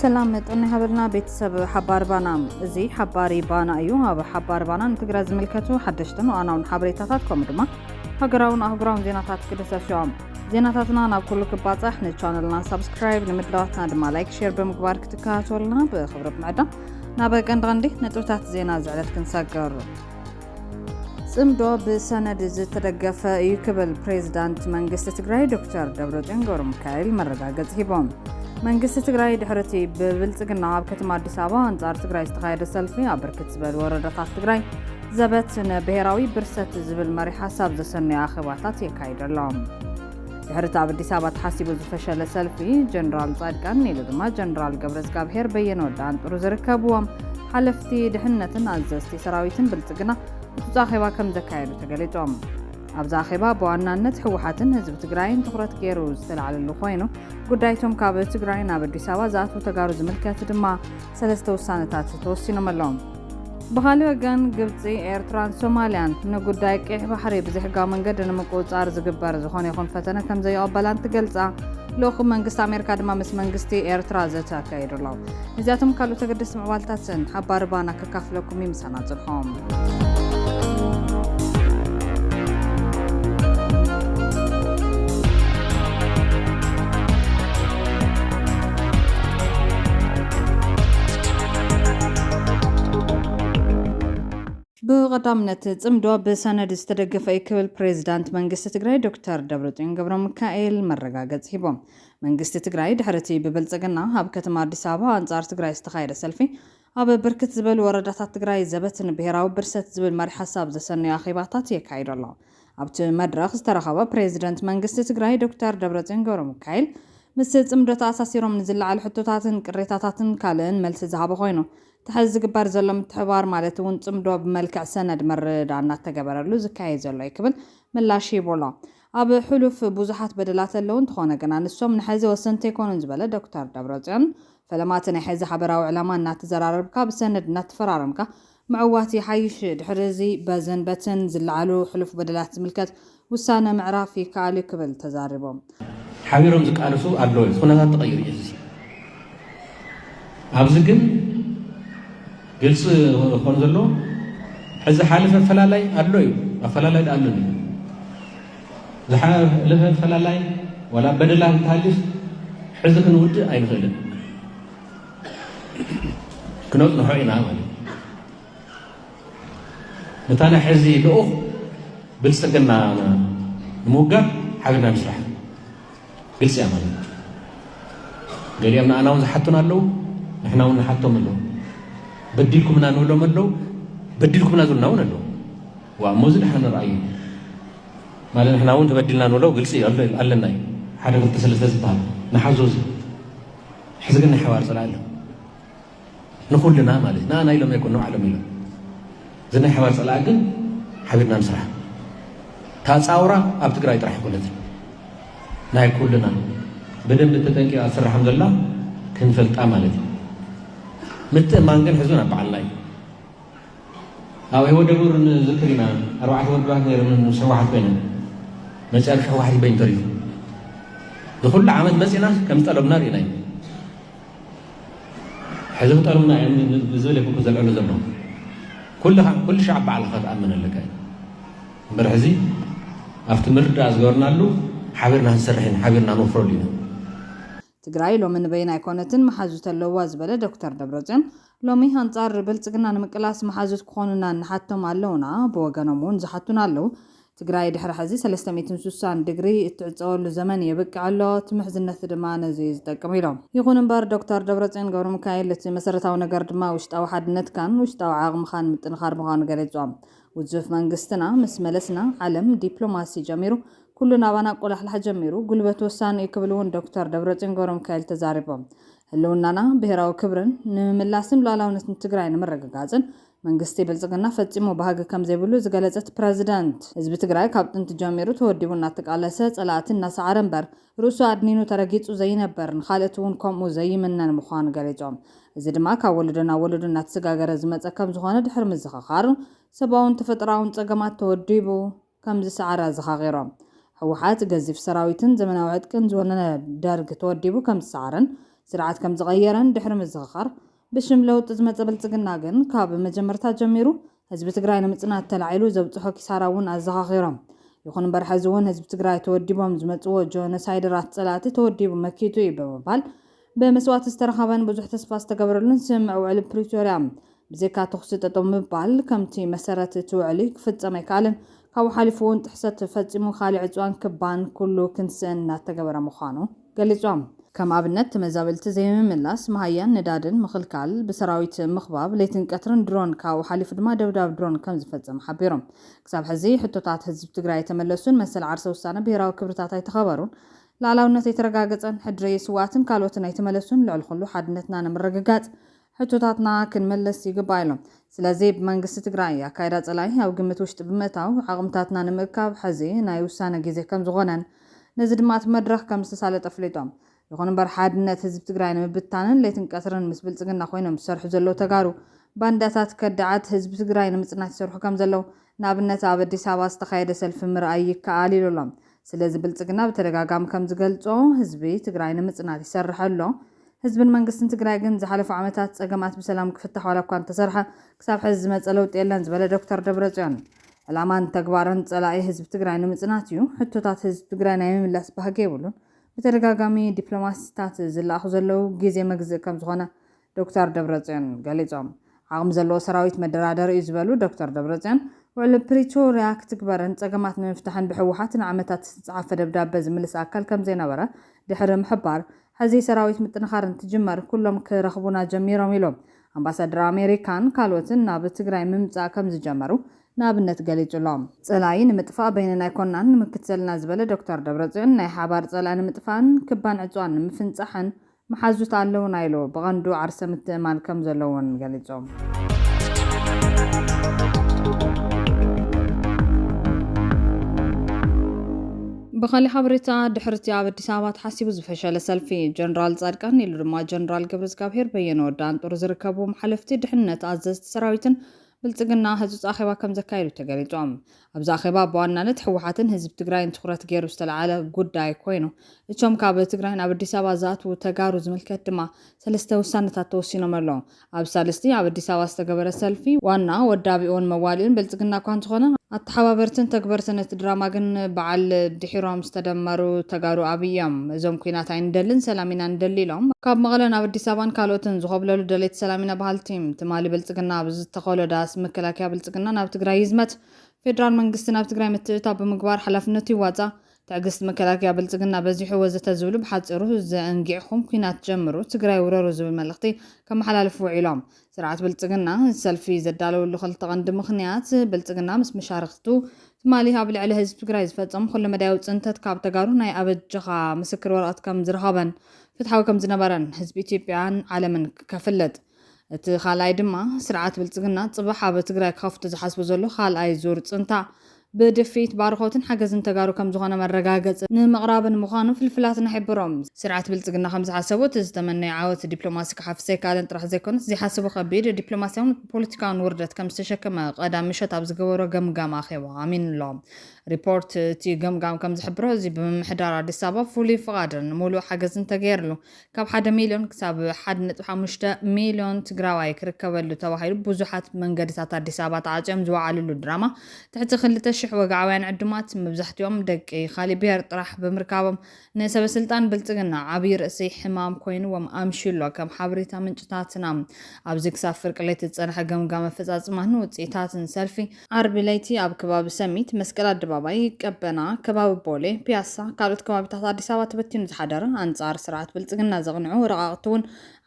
ሰላም መጠን ሃበልና ቤተሰብ ሓባር ባና እዚ ሓባሪ ባና እዩ ኣብ ሓባር ባና ንትግራይ ዝምልከቱ ሓደሽትን ዋኣናውን ሓበሬታታት ከምኡ ድማ ሃገራውን ኣህጉራውን ዜናታት ክደሰሱ እዮም ዜናታትና ናብ ኩሉ ክባጻሕ ንቻነልና ሳብስክራይብ ንምድላዋትና ድማ ላይክ ሼር ብምግባር ክትከታተሉና ብክብሪ ብምዕዳም ናብ ቀንዲ ቀንዲ ነጥብታት ዜና ዝዕለት ክንሰገር ጽምዶ ብሰነድ ዝተደገፈ እዩ ክብል ፕሬዚዳንት መንግስቲ ትግራይ ዶክተር ደብረጽዮን ገብረ ሚካኤል መረጋገጽ ሂቦም። መንግስቲ ትግራይ ድሕሪ እቲ ብብልጽግና ኣብ ከተማ ኣዲስ ኣበባ ኣንጻር ትግራይ ዝተኻየደ ሰልፊ ኣብ ብርክት ዝበሉ ወረዳታት ትግራይ ዘበት ን ብሄራዊ ብርሰት ዝብል መሪሕ ሓሳብ ዘሰነዩ ኣኼባታት የካይዱ ኣሎም። ድሕሪ እቲ ኣብ ኣዲስ ኣበባ ተሓሲቡ ዝፈሸለ ሰልፊ ጀነራል ጻድቃን ኢሉ ድማ ጀነራል ገብረዝጋብሄር በየነ ወዲ ኣንጥሩ ዝርከብዎም ሓለፍቲ ድሕነትን ኣዘዝቲ ሰራዊትን ብልጽግና ውሑጽ ኣኼባ ከም ዘካየዱ ተገሊጾም። ኣብዚ ኣኼባ ብዋናነት ህወሓትን ህዝቢ ትግራይን ትኹረት ገይሩ ዝተላዕለሉ ኮይኑ ጉዳይቶም ካብ ትግራይ ናብ ኣዲስ ኣበባ ዝኣትዉ ተጋሩ ዝምልከት ድማ ሰለስተ ውሳነታት ተወሲኖም ኣሎም። ብኻሊእ ወገን ግብፂ፣ ኤርትራን ሶማሊያን ንጉዳይ ቄሕ ባሕሪ ብዘሕጋዊ መንገዲ ንምቁፅፃር ዝግበር ዝኾነ ይኹን ፈተነ ከምዘይቕበላ እንትገልፃ፣ ልኡኽ መንግስቲ ኣሜሪካ ድማ ምስ መንግስቲ ኤርትራ ዘተ ኣካይዱ ኣሎ። ነዚኣቶም ካልኦት ኣገደስቲ ምዕባልታትን ሓባሪ ባና ከካፍለኩም እዩ ምሳና ፅንሑ። ብቐዳምነት ፅምዶ ብሰነድ ዝተደገፈ እዩ ክብል ፕሬዚዳንት መንግስቲ ትግራይ ዶክተር ደብረፅዮን ገብረ ሚካኤል መረጋገፂ ሂቦም። መንግስቲ ትግራይ ድሕሪ እቲ ብብልፅግና ኣብ ከተማ ኣዲስ ኣበባ ኣንፃር ትግራይ ዝተኻየደ ሰልፊ ኣብ ብርክት ዝበሉ ወረዳታት ትግራይ ዘበት ንብሄራዊ ብርሰት ዝብል መሪሕ ሓሳብ ዘሰነዩ ኣኼባታት የካይዱ ኣሎ። ኣብቲ መድረኽ ዝተረኸቡ ፕሬዚደንት መንግስቲ ትግራይ ዶክተር ደብረፅዮን ገብረሚካኤል ምስ ፅምዶ ተኣሳሲሮም ንዝለዓሉ ሕቶታትን ቅሬታታትን ካልእን መልሲ ዝሃቡ ኮይኑ እቲ ሐዚ ዝግበር ዘሎ ምትሕብባር ማለት እውን ፅምዶ ብመልክዕ ሰነድ ምርድዳእ እናተገበረሉ ዝካየድ ዘሎ እዩ ክብል ምላሽ ሂቡ ኣሎ። ኣብ ሕሉፍ ብዙሓት በደላት ኣለዉ፣ እንተኾነ ግና ንሶም ንሐዚ ወሰንቲ ኣይኮኑን ዝበለ ዶክተር ደብረፅዮን፣ ፈለማ እቲ ናይ ሐዚ ሓበራዊ ዕላማ እናተዘራረብካ ብሰነድ እናተፈራረምካ ምዕዋት ይሓይሽ፣ ድሕሪ እዚ በዝን በትን ዝለዓሉ ሕሉፍ በደላት ዝምልከት ውሳነ ምዕራፍ ይከኣል እዩ ክብል ተዛሪቦም። ሓቢሮም ዝቃለሱ ኣለዉ፣ እዚ ኩነታት ተቐይሩ እዩ፣ እዚ ኣብዚ ግን። ግልፂ ክኾን ዘለዎ ሕዚ ሓለፈ ኣፈላላይ ኣሎ እዩ ኣፈላላይ ዳኣ ኣሎ ዝሓለፈ ኣፈላላይ ዋላ በደላ እንተሃሊፍ ሕዚ ክንውድእ ኣይንኽእልን ክነፅንሖ ኢና ማለት ነታ ናይ ሕዚ ልኡኽ ብልፅግና ንምውጋር ሓቢርና ንስራሕ ግልፂ እያ ማለት እዩ። ገሊኦም ንኣና እውን ዝሓቱና ኣለዉ፣ ንሕና እውን ንሓቶም ኣለዉ። በዲልኩምና ንብሎም ኣለዉ፣ በዲልኩምና ዝብሉና እውን ኣለዉ። ዋ እሞ እዚ ድሓን ንርኣዩ ማለት ንሕና እውን ተበዲልና ንብሎ ግልፂ ኣለና እዩ። ሓደ ክልተ ሰለስተ ዝበሃል ንሓዞ እዚ ሕዚ ግን ናይ ሓባር ፅላእ ኣሎ። ንኹልና ማለት ንኣና ኢሎም ኣይኮን ንባዕሎም ኢሎም እዚ ናይ ሓባር ፀላእ ግን ሓቢርና ንስራሕ እታ ፃውራ ኣብ ትግራይ ጥራሕ ኮነት ናይ ኩልና ብደንብ ተጠንቂቃ ትስራሕም ዘላ ክንፈልጣ ማለት እዩ ምትእማን ግን ሕዙን ኣብ በዓልና እዩ ኣብ ህይወት ደቡር ንዝክር ኢና ኣርባዕተ ወድባት ነይሮም ምስ ህወሓት ኮይነን መጨረሻ ህወሓት ይበኝ ተሪፉ ንኩሉ ዓመት መፂና ከም ዝጠለብና ርኢና እዩ ሕዝቢ ጠርሙና እየ ንዝብል እየ ዘልዕሉ ዘሎ ኩልኻ ኩሉ ሻዕ ባዕልኻ ትኣምን ኣለካ እዩ እምበር ሕዚ ኣብቲ ምርዳእ ዝገበርናሉ ሓቢርና ክንሰርሕ ኢና ሓቢርና ክንወፍረሉ ኢና ትግራይ ሎሚ ንበይና ኣይኮነትን መሓዙት ኣለውዋ ዝበለ ዶክተር ደብረፅዮን ሎሚ ኣንፃር ብልፅግና ንምቅላስ መሓዙት ክኾኑና እንሓቶም ኣለውና ብወገኖም እውን ዝሓቱና ኣለው ትግራይ ድሕሪ ሕዚ ሰለስተ ሚእትን ሱሳን ድግሪ እትዕፀወሉ ዘመን የብቅዕ ኣሎ፣ እቲ ምሕዝነት ድማ ነዚ እዩ ዝጠቅም ኢሎም። ይኹን እምበር ዶክተር ደብረፅዮን ገብረሚካኤል እቲ መሰረታዊ ነገር ድማ ውሽጣዊ ሓድነትካን ውሽጣዊ ዓቕምኻን ምጥንኻር ምዃኑ ገሊፆም። ውዙፍ መንግስትና ምስ መለስና ዓለም ዲፕሎማሲ ጀሚሩ ኩሉ ናባና ቆላሕላሕ ጀሚሩ፣ ጉልበት ወሳኒ እዩ ክብል እውን ዶክተር ደብረፅዮን ገብረሚካኤል ተዛሪቦም። ህልውናና፣ ብሄራዊ ክብርን ንምምላስን ሉኣላውነትን ትግራይ ንምርግጋፅን መንግስቲ ብልፅግና ፈፂሙ ባህጊ ከምዘይብሉ ዝገለፀት ፕረዚደንት፣ ህዝቢ ትግራይ ካብ ጥንቲ ጀሚሩ ተወዲቡ እናተቃለሰ፣ ፀላእቲ እናሰዓረ እምበር ርእሱ ኣድኒኑ ተረጊፁ ዘይነብር፣ ንካልእት እውን ከምኡ ዘይምነን ምዃኑ ገሊፆም። እዚ ድማ ካብ ወለዶ ናብ ወለዶ እናተሰጋገረ ዝመፀ ከምዝኾነ ድሕሪ ምዝኽኻር፣ ሰብኣውን ተፈጥሮኣውን ፀገማት ተወዲቡ፣ ከምዝሰዓረ ኣዘኻኺሮም። ህወሓት ገዚፍ ሰራዊትን ዘመናዊ ዕጥቅን ዝወነነ ደርግ ተወዲቡ ከምዝሰዓረን ስርዓት ከምዝቐየረን ድሕሪ ምዝኽኻር፣ ብሽም ለውጢ ዝመፀ ብልፅግና ግን ካብ መጀመርታ ጀሚሩ ህዝቢ ትግራይ ንምፅናት ተላዒሉ ዘብፅሖ ኪሳራ እውን ኣዘኻኺሮም። ይኹን እምበር ሕዚ እውን ህዝቢ ትግራይ ተወዲቦም ዝመፅዎ ጆኖሳይደራት ፀላእቲ ተወዲቡ መኪቱ እዩ ብምባል ብመስዋእቲ ዝተረኸበን ብዙሕ ተስፋ ዝተገበረሉን ስምምዕ ውዕሊ ፕሪቶርያ ብዘይካ ተኹሲ ጠጠው ምባል ከምቲ መሰረት እቲ ውዕሊ ክፍፀም ኣይከኣለን። ካብኡ ሓሊፉ እውን ጥሕሰት ፈፂሙ ካሊእ ዕፅዋን ክባን ኩሉ ክንስእን እናተገበረ ምዃኑ ገሊፆም። ከም ኣብነት ተመዛበልቲ ዘይምምላስ፣ መሃያን ነዳድን ምኽልካል፣ ብሰራዊት ምኽባብ፣ ለይትን ቀትርን ድሮን ካብኡ ሓሊፉ ድማ ደብዳብ ድሮን ከምዝፈፀመ ሓቢሮም። ክሳብ ሕዚ ሕቶታት ህዝቢ ትግራይ ኣይተመለሱን፣ መሰል ዓርሰ ውሳነ፣ ብሄራዊ ክብርታት ኣይተኸበሩን፣ ልኣላውነት ኣይተረጋገጸን፣ ሕድሪ ስውኣትን ካልኦትን ኣይተመለሱን፣ ልዕሊ ኩሉ ሓድነትና ንምርግጋጽ ሕቶታትና ክንምልስ ይግባእ ኢሎም። ስለዚ ብመንግስቲ ትግራይ ኣካይዳ ጸላኢ ኣብ ግምት ውሽጢ ብምእታው ዓቕምታትና ንምእካብ ሕዚ ናይ ውሳነ ግዜ ከምዝኾነን ነዚ ድማ እቲ መድረኽ ከምዝተሳለጠ ኣፍሊጦም። ይኹን እምበር ሓድነት ህዝቢ ትግራይ ንምብታንን ለይትን ቀትርን ምስ ብልጽግና ኮይኖም ዝሰርሑ ዘለዉ ተጋሩ ባንዳታት ከዳዓት ህዝቢ ትግራይ ንምጽናት ይሰርሑ ከምዘለዉ ንኣብነት ኣብ ኣዲስ ኣበባ ዝተኻየደ ሰልፊ ምርኣይ ይከኣል ኢሉ ኣሎ። ስለዚ ብልፅግና ብተደጋጋሚ ከምዝገልፆ ህዝቢ ትግራይ ንምፅናት ይሰርሕ ኣሎ። ህዝብን መንግስትን ትግራይ ግን ዝሓለፉ ዓመታት ፀገማት ብሰላም ክፍታሕ ዋላ እኳ እንተሰርሐ ክሳብ ሐዚ ዝመፀ ለውጢ የለን ዝበለ ዶክተር ደብረፅዮን ዕላማን ተግባርን ፀላኢ ህዝቢ ትግራይ ንምፅናት እዩ፣ ሕቶታት ህዝቢ ትግራይ ናይ ምምላስ ባህጊ የብሉን፣ ብተደጋጋሚ ዲፕሎማሲታት ዝለኣኹ ዘለው ግዜ መግዝኢ ከምዝኾነ ዶክተር ደብረፅዮን ገሊፆም። ዓቕሚ ዘለዎ ሰራዊት መደራደሪ እዩ ዝበሉ ዶክተር ደብረፅዮን፣ ውዕሊ ፕሪቶርያ ክትግበርን ፀገማት ንምፍታሕን ብህወሓት ንዓመታት ዝተፅሓፈ ደብዳበ ዝምልስ ኣካል ከምዘይነበረ ድሕሪ ምሕባር፣ ሕዚ ሰራዊት ምጥንኻር እንትጅመር ኩሎም ክረኽቡና ጀሚሮም ኢሎም። ኣምባሳደር ኣሜሪካን ካልኦትን ናብ ትግራይ ምምፃእ ከምዝጀመሩ ንኣብነት ገሊፁሎም። ፀላኢ ንምጥፋእ በይነና ኣይኮናን ንምክት ዘለና ዝበለ ዶክተር ደብረፅዮን፣ ናይ ሓባር ፀላኢ ንምጥፋእን ክባን ዕፅዋን ንምፍንፃሕን መሓዙት ኣለዉና ኢሉ ብቐንዱ ዓርሰ ምትእምማን ከም ዘለዎን ገሊጾም። ብኻሊእ ሓበሬታ ድሕሪ'ቲ ኣብ ኣዲስ ኣበባ ተሓሲቡ ዝፈሸለ ሰልፊ፣ ጀነራል ጻድቃን ኢሉ ድማ ጀነራል ገብረዝጋብሄር በየነ ወዲ ኣንጦር ዝርከብዎም ሓለፍቲ ድሕንነት ኣዘዝቲ ሰራዊትን ብልፅግና ህፁፅ ኣኼባ ከምዘካየዱ ተገሊፁ። ኣብዚ ኣኼባ ብዋናነት ህወሓትን ህዝቢ ትግራይን ትኹረት ገይሩ ዝተልዓለ ጉዳይ ኮይኑ እቶም ካብ ትግራይ ናብ ኣዲስ ኣበባ ዝኣትዉ ተጋሩ ዝምልከት ድማ ሰለስተ ውሳነታት ተወሲኖም ኣለዉ። ኣብ ሳልስቲ ኣብ ኣዲስ ኣበባ ዝተገበረ ሰልፊ ዋና ወዳቢኡን መዋሊኡን ብልፅግና እኳ እንተኾነ፣ ኣተሓባበርትን ተግበርትን እቲ ድራማ ግን በዓል ድሒሮም ዝተደመሩ ተጋሩ ኣብይ እዮም። እዞም ኲናት ኣይንደልን ሰላም ኢና ንደሊ ኢሎም ካብ መቐለ ናብ ኣዲስ ኣበባን ካልኦትን ዝኾብለሉ ደለይቲ ሰላም ኢና በሃልቲ፣ ትማሊ ብልፅግና ኣብ ዝተኸሎ ዳስ መከላከያ ብልፅግና ናብ ትግራይ ይዝመት፣ ፌዴራል መንግስቲ ናብ ትግራይ ምትእትታው ብምግባር ሓላፍነቱ ይዋፃእ፣ ትዕግስቲ መከላከያ ብልፅግና በዚሑ ወዘተ ዝብሉ ብሓፂሩ ዘእንጊዕኹም ኲናት ጀምሩ ትግራይ ውረሩ ዝብል መልእኽቲ ከመሓላልፉ ውዒሎም። ስርዓት ብልፅግና እዚ ሰልፊ ዘዳለወሉ ክልተ ቀንዲ ምኽንያት ብልፅግና ምስ መሻርኽቱ ትማሊ ኣብ ልዕሊ ህዝቢ ትግራይ ዝፈፀሞ ኩለመዳያዊ ፅንተት ካብ ተጋሩ ናይ ኣበጀኻ ምስክር ወረቐት ከም ዝረኸበን ፍትሓዊ ከም ዝነበረን ህዝቢ ኢትዮጵያን ዓለምን ከፍልጥ እቲ ካልኣይ ድማ ስርዓት ብልፅግና ፅባሕ ኣብ ትግራይ ክኸፍቶ ዝሓስቡ ዘሎ ካልኣይ ዙር ፅንታ ብድፊት ባርኾትን ሓገዝን ተጋሩ ከም ዝኾነ መረጋገፂ ንምቕራብን ምዃኑ ፍልፍላትና ይሕብሮ። ስርዓት ብልፅግና ከም ዝሓሰቦ እቲ ዝተመነዮ ዓወት ዲፕሎማሲ ክሓፍስ ኣይከኣለን ጥራሕ ዘይኮነስ ዘይሓሰቦ ከቢድ ዲፕሎማሲያውን ፖለቲካውን ውርደት ከም ዝተሸከመ ቀዳም ምሸት ኣብ ዝገበሮ ገምጋም ኣኼባ ኣሚኑ'ሎ። ሪፖርት እቲ ገምጋም ከምዝሕብሮ እዚ ብምምሕዳር ኣዲስ ኣበባ ፍሉይ ፍቓድን ሙሉእ ሓገዝን ተገይርሉ ካብ ሓደ ሚሊዮን ክሳብ ሓደ ነጥቢ ሓሙሽተ ሚሊዮን ትግራዋይ ክርከበሉ ተባሂሉ ብዙሓት መንገድታት ኣዲስ ኣበባ ተዓፅዮም ዝወዓልሉ ድራማ ትሕቲ ክልተ ሽሕ ወግዓውያን ዕዱማት መብዛሕትኦም ደቂ ካሊእ ብሄር ጥራሕ ብምርካቦም ንሰበስልጣን ብልፅግና ዓብይ ርእሲ ሕማም ኮይኑዎም ኣምሽዩ'ሎ። ከም ሓበሬታ ምንጭታትና ኣብዚ ክሳብ ፍርቂ ለይቲ ዝፀንሐ ገምጋም ኣፈፃፅማን ውፅኢታትን ሰልፊ፣ ዓርቢ ለይቲ ኣብ ከባቢ ሰሚት፣ መስቀል ኣደባባይ፣ ቀበና፣ ከባቢ ቦሌ፣ ፒያሳ፣ ካልኦት ከባቢታት ኣዲስ ኣበባ ተበቲኑ ዝሓደረ ኣንፃር ስርዓት ብልፅግና ዘቕንዑ ረቓቕቲ'ውን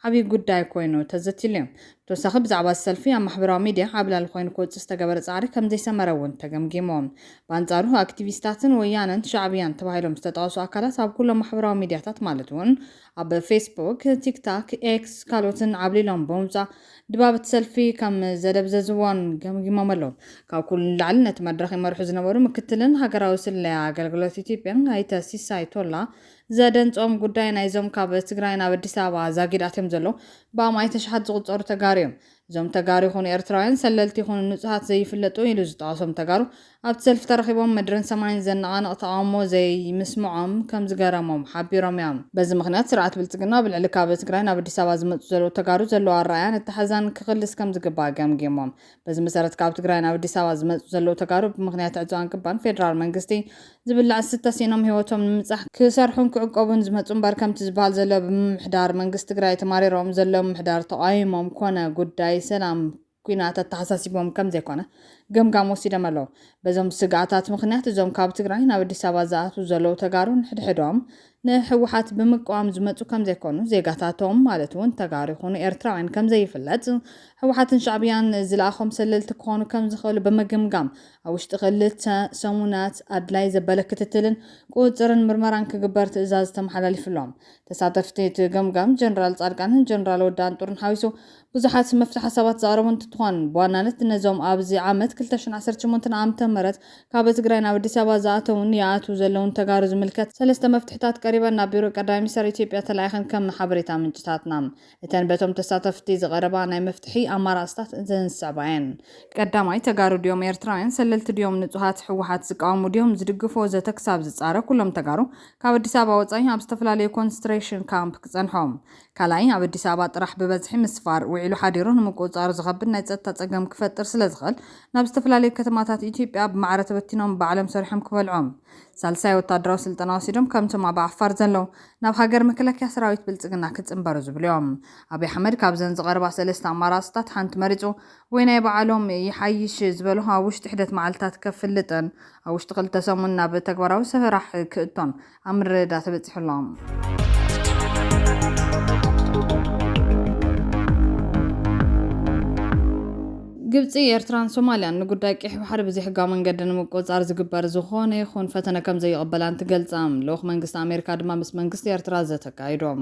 ዓብዪ ጉዳይ ኮይኑ ተዘትይሉ እዩ። ብተወሳኺ ብዛዕባ እዚ ሰልፊ ኣብ ማሕበራዊ ሚድያ ዓብላሊ ኮይኑ ክወፅእ ዝተገበረ ፃዕሪ ከምዘይሰመረ እውን ተገምጊሙ። ብኣንፃሩ ኣክቲቪስታትን ወያነን ሻዕብያን ተባሂሎም ዝተጠቐሱ ኣካላት ኣብ ኩሎም ማሕበራዊ ሚድያታት ማለት እውን ኣብ ፌስቡክ፣ ቲክታክ፣ ኤክስ ካልኦትን ዓብሊሎም ብምውፃእ ድባብ እቲ ሰልፊ ከምዘደብዘዝዎን ገምጊሞም ኣለው። ካብ ኩሉ ንላዕሊ ነቲ መድረኽ ይመርሑ ዝነበሩ ምክትልን ሃገራዊ ስለያ ኣገልግሎት ኢትዮጵያን ኣይተ ሲሳይ ቶላ ዘደንጾም ጉዳይ ናይዞም ካብ ትግራይ ናብ ኣዲስ ኣበባ ዛጊድ ኣትዮም ዘለዉ ብኣማኢት ኣሽሓት ዝቑጸሩ ተጋሩ እዮም። እዞም ተጋሩ ይኹኑ ኤርትራውያን፣ ሰለልቲ ይኹኑ ንጹሃት ዘይፍለጡ ኢሉ ዝጠቐሶም ተጋሩ፣ ኣብቲ ሰልፊ ተረኺቦም ምድርን ሰማይን ዘነቓንቕ ተቓውሞ ዘይምስምዖም ከምዝገረሞም ሓቢሮም እዮም። በዚ ምኽንያት ስርዓት ብልጽግና ኣብ ልዕሊ ካብ ትግራይ ናብ ኣዲስ ኣበባ ዝመጹ ዘለዉ ተጋሩ ዘለዎ ኣረኣእያን ኣተሓሕዛን ክኽልስ ከምዝግባእ ገምጊሞም። በዚ መሰረት ካብ ትግራይ ናብ ኣዲስ ኣበባ ዝመፁ ዘለዉ ተጋሩ ብምኽንያት ዕፅዋን ክባን ፌዴራል መንግስቲ ዝብላዕ ዝስተ ሲኢኖም ህይወቶም ንምብፃሕ ክሰርሑን ክዕቆቡን ዝመፁ እምበር ከምቲ ዝበሃል ዘሎ ብምምሕዳር መንግስቲ ትግራይ ተማሪሮም ዘለዉ ምምሕዳር ተቓዊሞም ኮነ ጉዳይ ሰላም ኲናት ኣተሓሳሲቦም ከምዘይኮነ ገምጋም ወሲዶም ኣለዉ። በዞም ስግኣታት ምኽንያት እዞም ካብ ትግራይ ናብ ኣዲስ ኣበባ ዝኣትዉ ዘለዉ ተጋሩ ንሕድሕዶም ንህወሓት ብምቅዋም ዝመፁ ከምዘይኮኑ ዜጋታቶም ማለት እውን ተጋሩ ይኹኑ ኤርትራውያን ከምዘይፍለጥ ህወሓትን ሻዕብያን ዝለኣኾም ሰለልቲ ክኾኑ ከምዝኽእሉ ብምግምጋም ኣብ ውሽጢ ክልተ ሰሙናት ኣድላይ ዘበለ ክትትልን ቁፅፅርን ምርመራን ክግበር ትእዛዝ ተመሓላሊፍሎም ተሳተፍቲ እቲ ገምጋም ጀነራል ፃድቃንን ጀነራል ወዲ ኣንጡርን ሓዊሱ ብዙሓት መፍትሒ ሓሳባት ዘቕረቡ እንትትኾን ብዋናነት ነዞም ኣብዚ ዓመት ክልተ ሽሕን ዓሰርተ ሸሞንተን ዓመተ ምህረት ካብ ትግራይ ናብ ኣዲስ ኣበባ ዝኣተዉን ይኣትዉ ዘለዉን ተጋሩ ዝምልከት ሰለስተ መፍትሕታት ቀሪበን ናብ ቢሮ ቀዳማይ ሚኒስተር ኢትዮጵያ ተላኢኸን ከም ሓበሬታ ምንጭታትና እተን በቶም ተሳተፍቲ ዝቐረባ ናይ መፍትሒ ኣማራፅታት እዘን ዝስዕባ እየን። ቀዳማይ፣ ተጋሩ ድዮም ኤርትራውያን ሰለልቲ ድዮም ንጹሃት ህወሓት ዝቃወሙ ድዮም ዝድግፉ ወዘተ ክሳብ ዝጻረ ኩሎም ተጋሩ ካብ ኣዲስ ኣበባ ወጻኢ ኣብ ዝተፈላለዩ ኮንስትሬሽን ካምፕ ክጸንሖም ካልኣይ፣ ኣብ ኣዲስ ኣበባ ጥራሕ ብበዝሒ ምስፋር፣ ውዒሉ ሓዲሩ ንምቁፅፃሩ ዝኸብድ ናይ ፀጥታ ፀገም ክፈጥር ስለዝኽእል ናብ ዝተፈላለዩ ከተማታት ኢትዮጵያ ብማዕረ ተበቲኖም ባዕሎም ሰሪሖም ክበልዑም። ሳልሳይ፣ ወታደራዊ ስልጠና ወሲዶም ከምቶም ኣብ ዓፋር ዘለው ናብ ሃገር መከላከያ ሰራዊት ብልፅግና ክፅምበሩ ዝብሉ እዮም። ኣብይ ኣሕመድ ካብዘን ዝቐረባ ሰለስተ ኣማራፅታት ሓንቲ መሪፁ ወይ ናይ ባዕሎም ይሓይሽ ዝበልኦ ኣብ ውሽጢ ሒደት መዓልትታት ከፍልጥን ኣብ ውሽጢ ክልተ ሰሙን ናብ ተግባራዊ ስራሕ ክእቶን ኣብ ምርድዳእ ተበጺሑ ኣሎ። ግብጺ፣ ኤርትራን ሶማልያን ንጉዳይ ቂሕ ባሕሪ ብዘይሕጋዊ መንገዲ ንምቁጽጻር ዝግበር ዝኾነ ይኹን ፈተነ ከምዘይቕበላ እንትገልጻ፣ ልኡኽ መንግስቲ ኣሜሪካ ድማ ምስ መንግስቲ ኤርትራ ዘተ ኣካይዶም።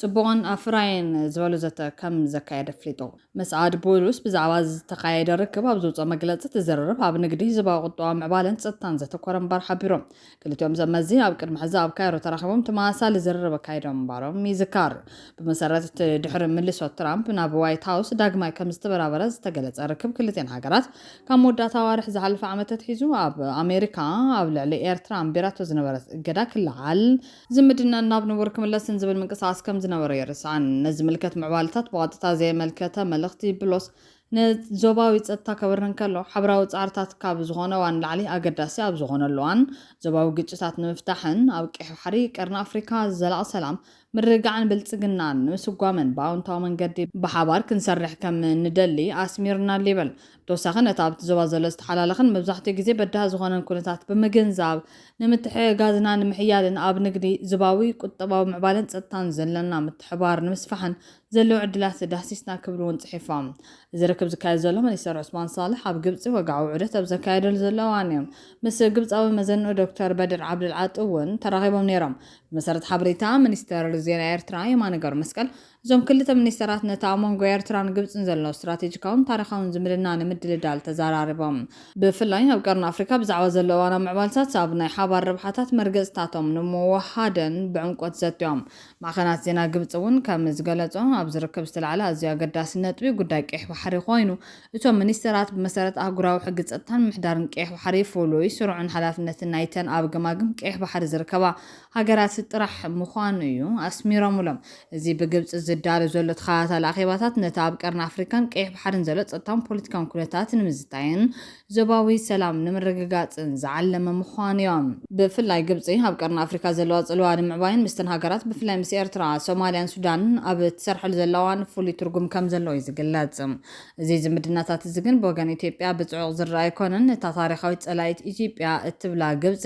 ጽቡቕን ኣፍራይን ዝበሉ ዘተ ከም ዘካየደ ኣፍሊጡ። መስዓድ ቡሉስ ብዛዕባ ዝተኻየደ ርክብ ኣብ ዘውጽኦ መግለጺ፣ እቲ ዝርርብ ኣብ ንግዲ፣ ህዝባዊ ቁጠባዊ ምዕባለን ጸጥታን ዘተኮረ ምንባር ሓቢሩ። ክልቲኦም ዘመዚ ኣብ ቅድሚ ሕዚ ኣብ ካይሮ ተራኺቦም ተመሳሳሊ ዝርርብ ኣካይዶም ምንባሮም ይዝከር። ብመሰረት እቲ ድሕሪ ምልሶ ትራምፕ ናብ ዋይት ሃውስ ዳግማይ ከም ዝተበራበረ ዝተገለጸ ርክብ ክልቲኤን ሃገራት፣ ካብ መወዳእታ ኣዋርሕ ዝሓለፈ ዓመት ኣትሒዙ ኣብ ኣሜሪካ ኣብ ልዕሊ ኤርትራ ኣንቢራቶ ዝነበረት እገዳ ክለዓል ዝምድናን ናብ ንቡር ክምለስን ዝብል ምንቅስቓስ ከም ዝነበሮ ኣይርሳዕን። ነዚ ዝምልከት ምዕባለታት ብቐጥታ ዘየመልከተ መልእኽቲ ብሎስ ንዞባዊ ጸጥታ ከብርህ እንከሎ፣ ሓብራዊ ጻዕርታት ካብ ዝኾነ እዋን ንላዕሊ ኣገዳሲ ኣብ ዝኾነሉ እዋን፣ ዞባዊ ግጭታት ንምፍታሕን ኣብ ቀይሕ ባሕሪ፣ ቀርኒ ኣፍሪካ፣ ዘላቒ ሰላም፣ ምርግጋዕን ብልጽግናን ንምስጓምን ብኣውንታዊ መንገዲ ብሓባር ክንሰርሕ ከም ንደሊ ኣስሚርናሉ ይብል ብተወሳኺ ነቲ ኣብቲ ዞባ ዘሎ ዝተሓላለኸን መብዛሕትኡ ግዜ በዳሂ ዝኾነን ኩነታት ብምግንዛብ፣ ንምትሕግጋዝና ንምሕያልን ኣብ ንግዲ፣ ዞባዊ ቁጠባዊ ምዕባለን ጸጥታን ዘለና ምትሕብባር ንምስፋሕን ዘለዉ ዕድላት ዳህሲስና ክብሉ እውን ጽሒፎም። እዚ ርክብ ዝካየድ ዘሎ ሚኒስተር ዑስማን ሳልሕ ኣብ ግብጺ ወግዓዊ ዑደት ኣብ ዘካየደሉ ዘሎ እዋን እዩ። ምስ ግብጻዊ መዘንኡ ዶክተር በድር ዓብደልዓጢ እውን ተራኺቦም ነይሮም። ብመሰረት ሓበሬታ ሚኒስተር ዜና ኤርትራ የማነ ገብረመስቀል፣ እዞም ክልተ ሚኒስተራት ነቲ ኣብ መንጎ ኤርትራን ግብጽን ዘሎ ስትራቴጂካውን ታሪኻውን ዝምድና ንምድልዳል ተዘራሪቦም። ብፍላይ ኣብ ቀርኒ ኣፍሪካ ብዛዕባ ዘሎ እዋናዊ ምዕባልታት ኣብ ናይ ሓባር ረብሓታት መርገጺታቶም ንምውህሃድን ብዕምቆት ዘትዮም። ማዕኸናት ዜና ግብጺ እውን ከም ዝገለጾ ኣብዚ ርክብ ዝተላዕለ ኣዝዩ ኣገዳሲ ነጥቢ ጉዳይ ቀይሕ ባሕሪ ኮይኑ እቶም ሚኒስተራት ብመሰረት ኣህጉራዊ ሕጊ ጸጥታን ምሕዳርን ቀይሕ ባሕሪ ፍሉይ ስሩዕን ሓላፍነትን ናይተን ኣብ ገማግም ቀይሕ ባሕሪ ዝርከባ ሃገራት ጥራሕ ምዃኑ እዩ ኣስሚሮምሎም። እዚ ብግብጺ ዝዳሎ ዘሎ ተኸታታሊ ኣኼባታት ነቲ ኣብ ቀርኒ ኣፍሪካን ቀይሕ ባሕሪን ዘሎ ጸጥታውን ፖለቲካውን ኩነታት ንምዝታይን ዞባዊ ሰላም ንምርግጋጽን ዝዓለመ ምዃኑዮ። ብፍላይ ግብጺ ኣብ ቀርኒ ኣፍሪካ ዘለዋ ጽልዋ ንምዕባይን ምስተን ሃገራት ብፍላይ ምስ ኤርትራ፣ ሶማልያን ሱዳንን ኣብ እትሰርሐሉ ዘላ እዋን ፍሉይ ትርጉም ከምዘለዎ እዩ ዝግለጽ። እዚ ዝምድናታት እዚ ግን ብወገን ኢትዮጵያ ብጽዑቕ ዝረኣ ኣይኮነን። እታ ታሪኻዊት ጸላኢት ኢትዮጵያ እትብላ ግብጺ፣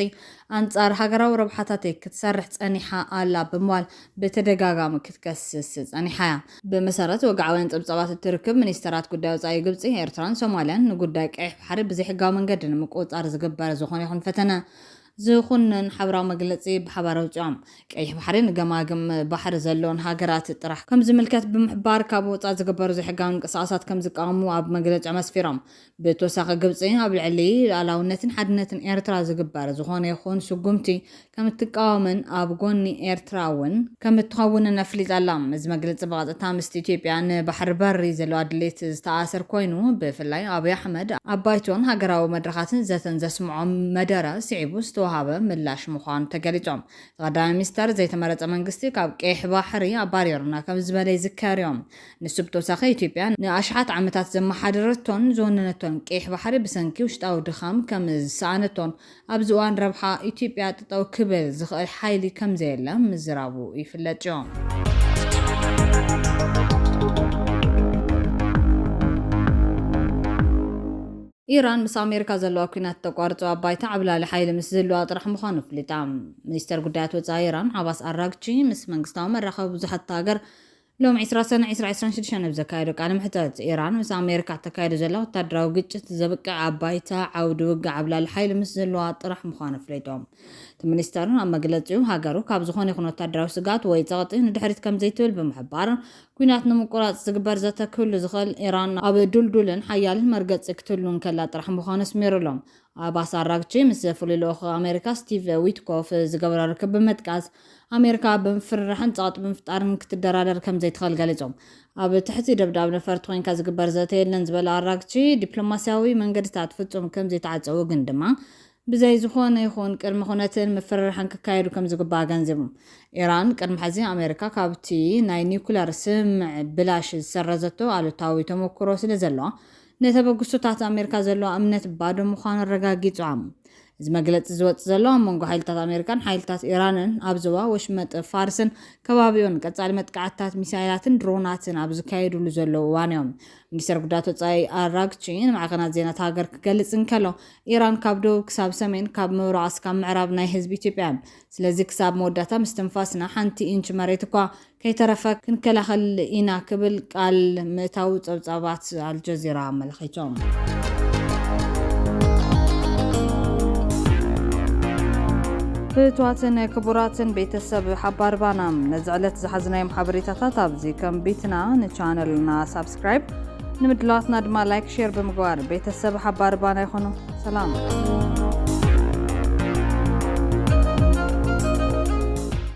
ኣንጻር ሃገራዊ ረብሓታተይ ክትሰርሕ ጸኒሓ ኣላ ብምባል ብተደጋጋሚ ክትከስስ ጸኒሓ'ያ። ብመሰረት ወግዓውያን ጸብጻባት እቲ ርክብ፣ ሚኒስተራት ጉዳይ ወጻኢ ግብጺ፣ ኤርትራን ሶማልያን ንጉዳይ ቀይሕ ባሕሪ ብዘይሕጋዊ መንገዲ ንምቁጽጻር ዝግበር ዝኾነ ይኹን ፈተነ ዝኹንን ሓበራዊ መግለጺ ብሓባር ኣውጺኦም። ቀይሕ ባሕሪ ንገማግም ባሕሪ ዘለወን ሃገራት ጥራሕ ከምዝምልከት ብምሕባር፣ ካብ ወጻኢ ዝግበሩ ዘይሕጋዊ ምንቅስቓሳት ከምዝቃወሙ ኣብ መግለጺኦም ኣስፊሮም። ብተወሳኺ ግብፂ ኣብ ልዕሊ ሉኣላውነትን ሓድነትን ኤርትራ ዝግበር ዝኾነ ይኹን ስጉምቲ ከምትቃወምን ኣብ ጎኒ ኤርትራ እውን ከምትኸውንን ኣፍሊጣ ኣላ። እዚ መግለፂ ብቐጥታ ምስቲ ኢትዮጵያ ንባሕሪ በሪ ዘለዋ ድሌት ዝተኣኣሰር ኮይኑ ብፍላይ ኣብይ ኣሕመድ ኣብ ባይቶን ሃገራዊ መድረኻትን ዘተን ዘስምዖ መደረ ስዒቡ ዝተውሃበ ምላሽ ምዃኑ ተገሊፆም። እቲ ቀዳማይ ሚኒስተር ዘይተመረፀ መንግስቲ ካብ ቀይሕ ባሕሪ ኣባሪሩና ከምዝበለ ይዝከር እዩ። ንሱ ብተወሳኺ ኢትዮጵያ ንኣሽሓት ዓመታት ዘመሓደረቶን ዝወነነቶን ቀይሕ ባሕሪ ብሰንኪ ውሽጣዊ ድኻም ከም ዝሰኣነቶን ኣብዚ እዋን ረብሓ ኢትዮጵያ ጠጠው ክብል ዝኽእል ሓይሊ ከም ዘየለ ምዝራቡ ይፍለጥዮ። ኢራን ምስ ኣሜሪካ ዘለዋ ኲናት እተቋርጾ ኣብ ባይታ ዓብላሊ ሓይሊ ምስ ዝህልዋ ጥራሕ ምዃኑ ኣፍሊጣ። ሚኒስተር ጉዳያት ወጻኢ ኢራን ዓባስ ኣራግቺ ምስ መንግስታዊ መራኸቢ ብዙሓት እታ ሃገር ሎሚ ዕስራ ሰነ ዕስራ ዕስራን ሽዱሽተን ኣብ ዘካየዶ ቃለ መሕተት፣ ኢራን ምስ ኣሜሪካ እተካይዶ ዘላ ወተሃደራዊ ግጭት ዘብቅዕ ኣብ ባይታ ዓውዲ ውግእ ዓብላሊ ሓይሊ ምስ ዝህልዋ ጥራሕ ምዃኑ ኣፍሊጡ። እቲ ሚኒስተር ኣብ መግለጺኡ፣ ሃገሩ ካብ ዝኾነ ይኹን ወተሃደራዊ ስግኣት ወይ ጸቕጢ ንድሕሪት ከምዘይትብል ብምሕባር፣ ኲናት ንምቁራጽ ዝግበር ዘተ ክህሉ ዝኽእል፣ ኢራን ኣብ ድልዱልን ሓያልን መርገጺ ክትህሉ እንከላ ጥራሕ ምዃኑ ኣስሚሩሉ። ኣባስ ኣራግቺ ምስ ፍሉይ ልኡኽ ኣሜሪካ ስቲቭ ዊትኮፍ ዝገበሮ ርክብ ብምጥቃስ፣ ኣሜሪካ ብምፍርራሕን ጸቕጢ ብምፍጣርን ክትደራደር ከምዘይትኽእል ገሊጾም። ኣብ ትሕቲ ደብዳብ ነፈርቲ ኮይንካ ዝግበር ዘተ የለን ዝበለ ኣራግቺ፣ ዲፕሎማስያዊ መንገድታት ፍጹም ከምዘይተዓጸዉ ግን ድማ ብዘይ ዝኾነ ይኹን ቅድመ ኩነትን ምፍርራሕን ክካየዱ ከምዝግባእ ኣገንዚቡ። ኢራን ቅድሚ ሕዚ ኣሜሪካ ካብቲ ናይ ኒኩለር ስምምዕ ብላሽ ዝሰረዘቶ ኣሉታዊ ተመኩሮ ስለዘለዋ፣ ንተበግሶታት ኣሜሪካ ዘለዋ እምነት ባዶ ምዃኑ ኣረጋጊጻ። እዚ መግለጺ ዝወጽእ ዘሎ፣ ኣብ መንጎ ሓይልታት ኣሜሪካን ሓይልታት ኢራንን ኣብ ዞባ ወሽመጥ ፋርስን ከባቢኡን ቀጻሊ መጥቃዕትታት ሚሳይላትን ድሮናትን ኣብ ዝካየድሉ ዘለዉ እዋንዮ። ሚኒስተር ጉዳያት ወጻኢ ኣራግቺ ንማዕከናት ዜና እታ ሃገር ክገልጽ እንከሎ፣ ኢራን ካብ ደቡብ ክሳብ ሰሜን፣ ካብ ምብራቕ እስካብ ምዕራብ ናይ ህዝቢ ኢትዮጵያያ። ስለዚ ክሳብ መወዳእታ ምስትንፋስና ሓንቲ ኢንች መሬት እኳ ከይተረፈ ክንከላኸል ኢና ክብል ቃል ምእታዉ ጸብጻባት ኣልጀዚራ ኣመልኺቶም። ፍትዋትን ክቡራትን ቤተሰብ ሓባር ባና ነዚ ዕለት ዝሓዝናዮም ሓበሬታታት ኣብዚ ከንቢትና ንቻነልና ሳብስክራይብ ንምድላዋትና ድማ ላይክ ሼር ብምግባር ቤተሰብ ሓባር ባና ይኹኑ ሰላም